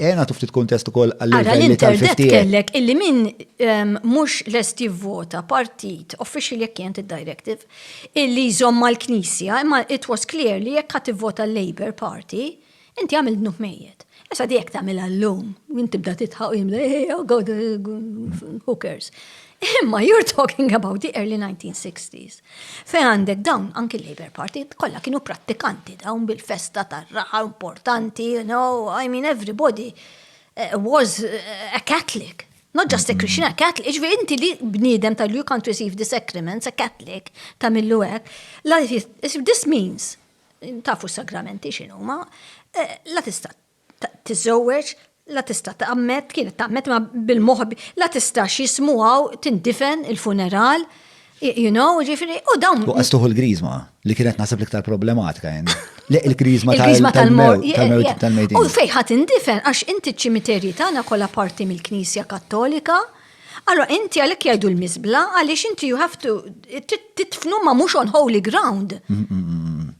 Eh, nagħtu ftit kuntest ukoll għall-livelli tal-50. kellek illi min ehm, mhux lest jivvota partit official jekk kienet id-directive illi jżomm mal-Knisja, imma it was clear li jekk ħadd ivvota l-Labour Party, inti għamil dnub mejjed. Issa di jekk tagħmilha llum, min tibda titħaq jimda, eh, eh, oh God, eh, who cares. Imma you're talking about the early 1960s. Fej għandek dawn anki l-Labour Party kollha kienu prattikanti dawn bil-festa tar-raħa importanti, you know, I mean everybody eh, was eh, a Catholic. Not just a Christian, a Catholic. Iġvi inti li bniedem tal you can't receive the sacraments, a Catholic, ta' millu għek. This means, tafu s-sagramenti xinu, ma eh, la tista tiżżewweġ, la tista' tgħammed, kienet tgħammed ma bil-moħħ la tistax jismu hawn tindifen il-funeral, you know, ġifieri, u dawn. U qastuħu l-griżma li kienet naħseb l-iktar problematika hemm. Le il-griżma tal-mewt tal-mewt. U fejn ħadd indifen għax inti ċ-ċimiterji tagħna kollha parti mill-Knisja Kattolika. Allora inti għalhekk jgħidu l-miżbla għaliex inti you have to titfnu ma mhux on holy ground.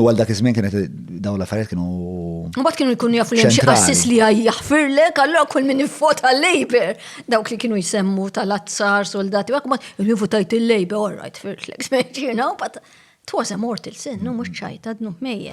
U għal dak iż-żmien kienet dawn l-affarijiet kienu. U bat kienu jkunu jafu li xi assis li jaħfirlek, allura kull min ivvota l-Labor. Dawk li kienu jsemmu tal-azzar, soldati, għak ma li votajt il-Labor, all right, firtlek, you know, but it was a mortal sin, no, mux ċajta, dnu mejja.